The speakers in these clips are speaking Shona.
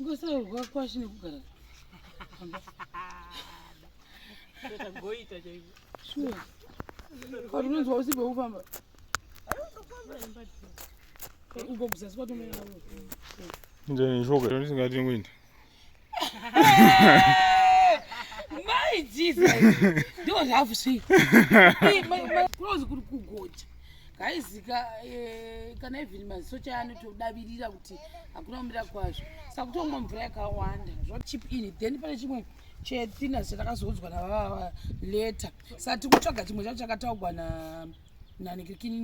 ngosaurwa kwashi nekugara sure kati unonzwa usibve kufamba uko kuzasi kwatomera ndisingatengwenda Mai Jesus. Ndiwo zvafu sei. Close kuri kugoja. Guys ka eh, kana even masocha anotodavirira kuti hakuna kumira kwazvo. Saka kutongwa mvura yakawanda. Zvo chip in then pane chimwe chethina chatakazodzwa na baba later. Sati kutsvaga chimwe chacho chakataugwa na nanekirikini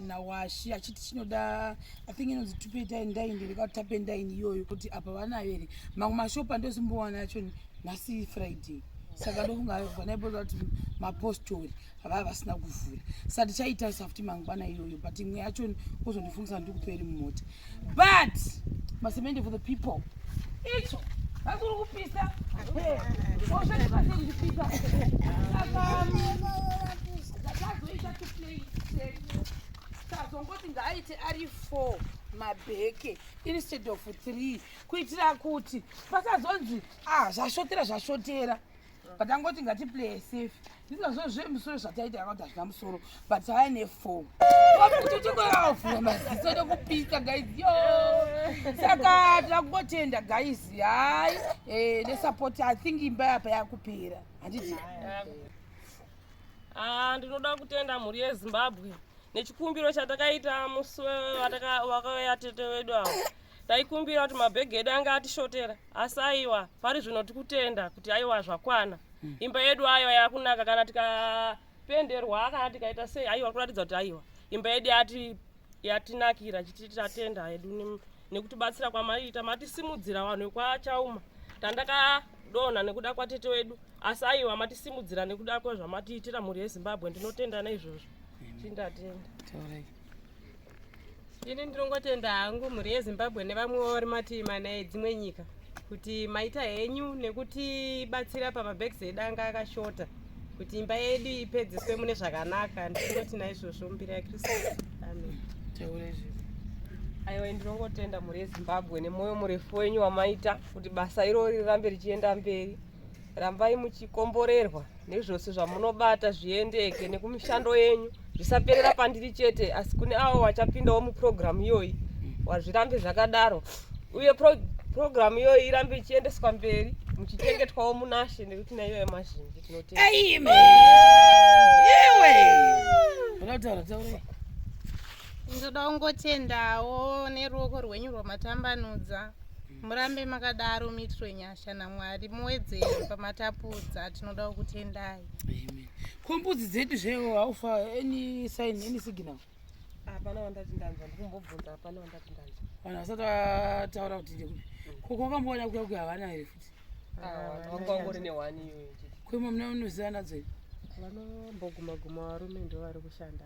nawashi na achiti chinoda i think inonzi tupeta ndaini ndikatapa ndaini iyoyo kuti apa vanayo here mamwe mashopa ndozimbowana yacho nhasi friday saka ndofunga vanaibota kuti mapostori havaa vasina kuvhura sati chaita safuti mangwana iyoyo but imwe yacho ozondifungisa ndikuperi mumota but masemende for the people icho vakuri kupisa oshativasekuzvipisa akazoita tuplay tazongoti ngaaite ari four mabheke instead of three kuitira kuti pasazonzi ah zvashotera zvashotera but angoti ngatiplay safe ndinazvo zvemusoro zvataita yakauti hazvina musoro but aya nefo kutotokoyavavhura maziso nekupisa guys yo saka takungotenda guys hai eh, nesupport i think imba yapa yakupera handiti ah, ndinoda kutenda mhuri yezimbabwe nechikumbiro chatakaita musi wakauya tete wedu avo taikumbira kuti mabhegi edu anga atishotera asi aiwa pari zvino tikutenda kuti aiwa zvakwana hmm. imba yedu aiwa yakunaka kana tikapenderwa kana tikaita sei aiwa kuratidza kuti aiwa imba yedu yati yatinakira chiti tatenda hedu nekutibatsira kwamaiita matisimudzira vanhu vekwachauma tandakadonha nekuda kwatete wedu asi aiwa matisimudzira nekuda kwezvamatiitira mhuri yezimbabwe ndinotenda neizvozvo chindatenda ini ndinongotenda hangu mhuri yezimbabwe nevamwewo vari mativi mana edzimwe nyika kuti maita henyu nekutibatsira pamabheks edu anga akashota kuti imba yedu ipedziswe mune zvakanaka ndinoti naizvozvo mbira yakristu amen aiwa ndinongotenda mhuri yezimbabwe nemwoyo murefu wenyu wamaita kuti basa irori rirambe richienda mberi rambai muchikomborerwa nezvose zvamunobata zviendeke nekumishando yenyu zvisaperera pandiri chete asi kune avo vachapindawo mupurogiramu iyoyi wazvirambe zvakadaro uye purogiramu iyoyi irambe ichiendeswa mberi muchichengetwawo munashe nekuti naiyo yemazhinji tinoteaaiwe ndoda kungotendawo neruoko rwenyu rwamatambanudza murambe makadaro miitiro nyasha Shana Mwari muwedzere pamatapudza tinoda kutendai. Amen. Kombudzi dzedu zvewo haufa any sign any signal. Hapana wandati ndanzwa ndikumbobvunza hapana wandati ndanzwa. Vanhu vasati vataura kuti ndekupi. Koko wakamboona kuya kuya havana here futi. Ah, wanga wangori ne one iyoyo. Kwema mna unoziva nadzo. Vanomboguma guma varume ndo vari kushanda.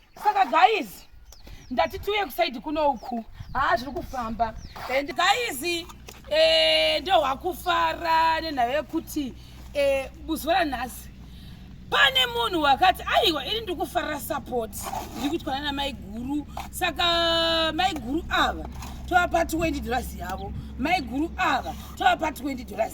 Saka guys ndati tiuye kusaidi kuno uku haa zviri kufamba and guys eh, ndohwakufara nenhava yekuti eh, buzuva ranhasi pane munhu wakati aiwa ini ndiri kufarira support ndiri kuitwa nana maiguru saka maiguru ava tovapa 20 dollars yavo maiguru ava tovapa 20 dollars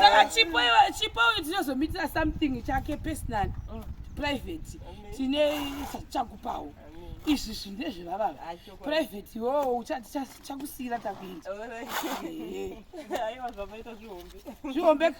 saka chipo chipo uyu tinozomitira something chake personal mm. private tine chakupawo izvi zvinhu ndezvevava private iwowo chakusiyira takuita zvihombe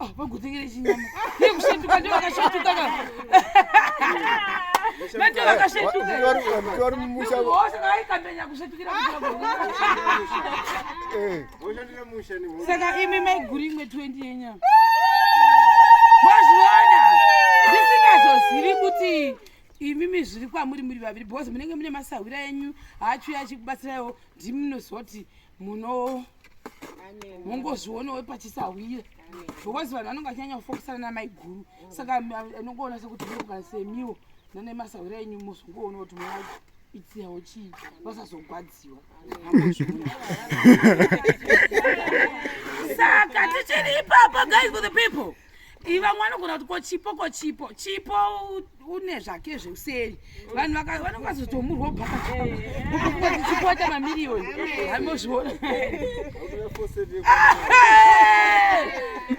Ah, vagutengere chinyama yekushetuka ndiyo vakashetuka ka nandiyo vakashetuka vari mumusha hosha kaikandanya kushetukira Eh, saka imi maiguri imwe 20 yenyama mazviona ndisingazozivi kuti imimi zviri kwamuri muri vaviri because munenge mune masahwira enyu haachuya achikubatsirawo ndimi munoziva kuti muno mungozvionawo pachisahwira because vanhu vanonge vachanyanya kufokisana namaiguru saka anongoona sekuti murikuga semiwo nane masahwira enyu mozongoona kuti mwana itsiyawo chii vasazogwadziwa saka tichiri ipapa guys for the people vamwe vanogona kuti ko chipo ko chipo chipo une zvake zveuseri vanhu vanenge vazotomurwa bhakaichipo aita mamiriyoni amozviona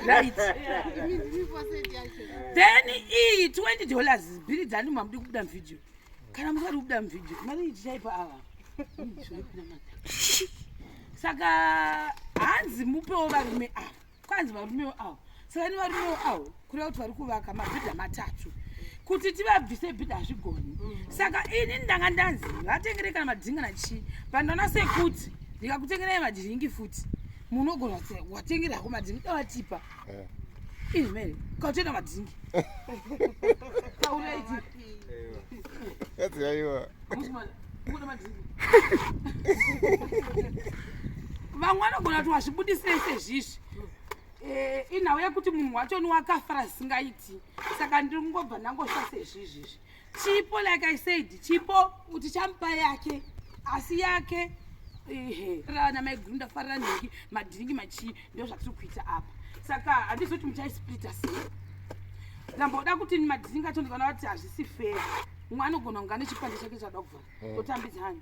right then iyi 20 dollars bhiri dzani mamudi kubuda muvideo kana musati kubuda muvideo mari ichichaipa ava saka hanzi mupewo varume ava kwanzi varumewo awo saka ni varumewo awo kureva kuti vari kuvaka mabhidha matatu kuti tivabvise bhidha hazvigoni mm. saka ini ndanga ndanzi vatengere kana madhinga nachii pandaona sekuti ndikakutengerai madhiringi futi munogona kuti watengera hako madhingi dawatipa eh. ini mene kautoenda madhingi vamwe vanogona kuti wazvibudisei sezvizvi eh, inhau yekuti munhu wacho ni wakafara zvisingaiti saka ndiri kungobva ndangosva sezvizvizvi chipo like i said chipo kuti chamupa yake asi yake ehe rana maiguru ndafarira nhingi madhiringi machii ndozvatiri kuita apa saka handizoti muchaisplita sei ndamboda kuti madhiringi acho ndikaona kuti hazvisi fair mumwe anogona kunga nechipande chake chada kuvhara mm. totambidza hanyi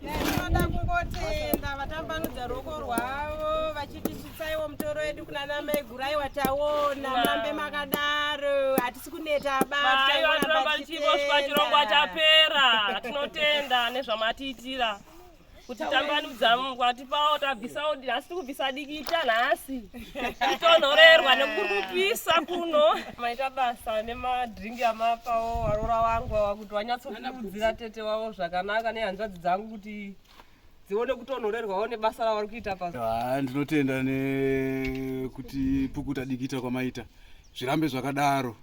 Tinoda kungotenda vatambanudza ruoko rwavo vachitisvitsaiwo mutoro wedu kuna namai gurai wataona murambe makadaro hatisi kuneta abaaivatorambaichioswa chirongwa chapera tinotenda nezvamatiitira kuti tambanudza mungwa tipawo tabvisawo nhasi tiri kubvisa dikita nhasi titonhorerwa nekukurupisa kuno maita basa nemadringi amapawo varora wangu kuti vanyatsokurudzira tete wavo zvakanaka nehanzvadzi dzangu kuti dzione kutonhorerwawo nebasa ravari kuita pa Ah, ndinotenda nekuti pukuta dikita kwamaita zvirambe zvakadaro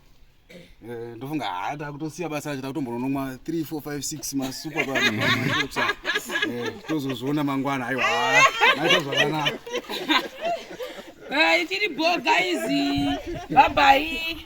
Eh, ndofunga haa takutosiya basa racho takutombononomwa 3 4 5 6 masupa pa Eh, tozozviona mangwana aiwa haa, maita zvakanaka Eh, tiri bho guys. Bye bye.